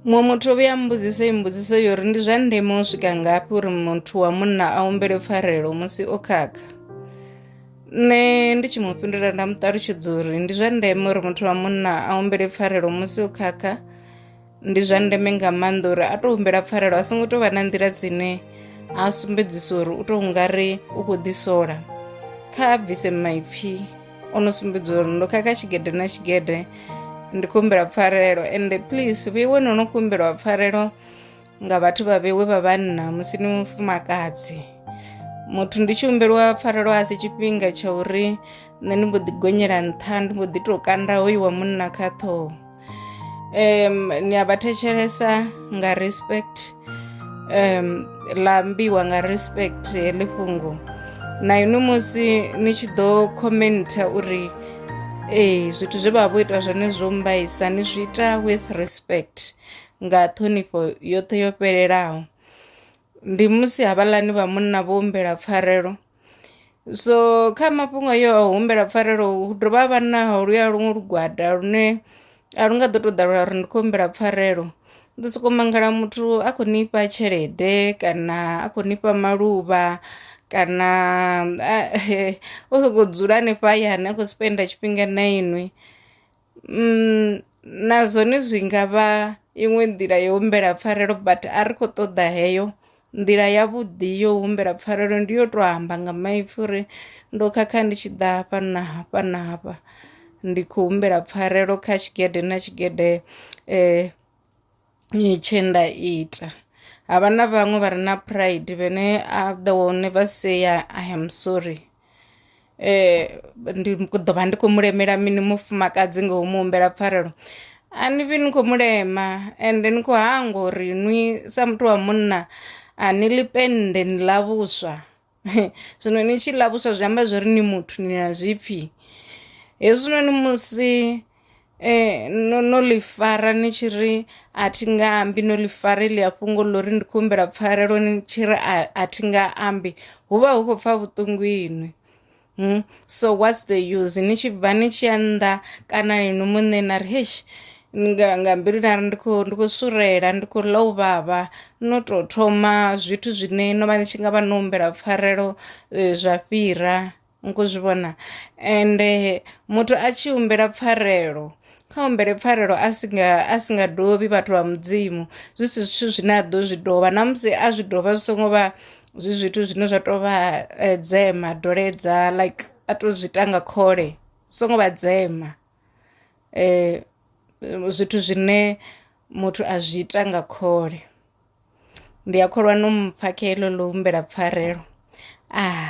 Muṅwe muthu o vhuya mbudziso i mbudziso yo uri ndi zwa ndeme u swika ngafhi uri muthu wa munna a humbele pfarelo musi o khakha nṋe ndi tshi mu fhindula nda mu ṱalutshedza uri ndi zwa ndeme uri muthu wa munna a humbele pfarelo musi o khakha ndi zwa ndeme nga maanḓa uri a tou humbela pfarelo a songo tou vha na nḓila dzine a sumbedzisa uri u tou nga ri u khou ḓisola kha a bvise maipfhi o no sumbedza uri ndo khakha tshigede na tshigede ndi khou humbela pfarelo ende please vheiwe no no kumbelwa pfarelo nga vhathu vha vheiwe vha vhanna musi ni mufumakadzi muthu ndi tshi humbelwa pfarelo a si tshifhinga tsha uri nṋe ndi mbo ḓi gonyela nṱha ndi mbo ḓi tou kanda hoyu wa munna kha ṱhoho um ni a vha thetshelesa nga respect um ḽa ambiwa nga respect heḽi fhungo na inwi musi ni tshi ḓo commentha uri ee zwithu zwe vha vha vho ita zwone zwo mbaisa ni zwi ita with respect nga ṱhonifho yoṱhe yo fhelelaho ndi musi havhaḽani vha munna vho humbela pfarelo so kha mafhungo ayo a u humbela pfarelo hu dovha ha vha na holuya luṅwe lugwada lune a lu nga ḓo tou ḓa lwa ri ndi khou humbela pfarelo. U ḓo sokou mangala muthu a khou ni fha tshelede kana a khou ni fha maluvha kana o sokou dzula hanefha hayani a khou spender tshifhinga na inwi. na zwone zwi nga vha iṅwe nḓila ya u humbela pfarelo but a ri khou ṱoḓa heyo nḓila ya vhuḓi yo humbela pfarelo ndi yo to amba nga maipfhi uri ndo khakha ndi tshi ḓa hafha na hafha na hafha ndi khou humbela pfarelo kha tshigede na tshigede . tshe nda ita havha na vhaṅwe vha re na pride vhene a the will never say i am sorry eh ndi ḓo vha ndi khou mu lemela mini mufumakadzi nga u mu humbela pfarelo a ni vhi ni khou mu lema ende ni khou hangwa uri nwi sa muthu wa munna a ni ḽi pennde ni ḽa vhuswa. Zwino ni tshi ḽa vhuswa zwi amba zwori ni muthu ni na zwipfi. Hezwinoni musi no no ḽi fara ni tshi ri a thi nga ambi no ḽi fara heḽia fhungo ḽa uri ndi khou humbela pfarelo ni tshi ri a thi nga ambi hu vha hu khou pfha vhuṱungu inwi. Hmm? so what's the use ni tshi bva ni tshi ya nnḓa kana inwi muṋe na ri hesh nga nga mbilu nari ndi khou ndi khou surela ndi khou ḽa u vhavha no tou thoma zwithu zwine no vha ni tshi nga vha no humbela pfarelo eh, zwa fhira nku zwi vhona ende muthu a tshi humbela pfarelo kha humbele pfarelo a si nga a si nga dovhi vhathu vha mudzimu zwi si zwithu zwine a ḓo zwi dovha na musi a zwi dovha zwi songo vha zwi zwithu zwine zwa tou vha eh, dzema doledza like a to zwi ita nga khole zwi songo vha dzema eh zwithu zwine muthu a zwi ita nga khole ndi a kholwa no mpfha kha heḽo ḽo humbela pfarelo ah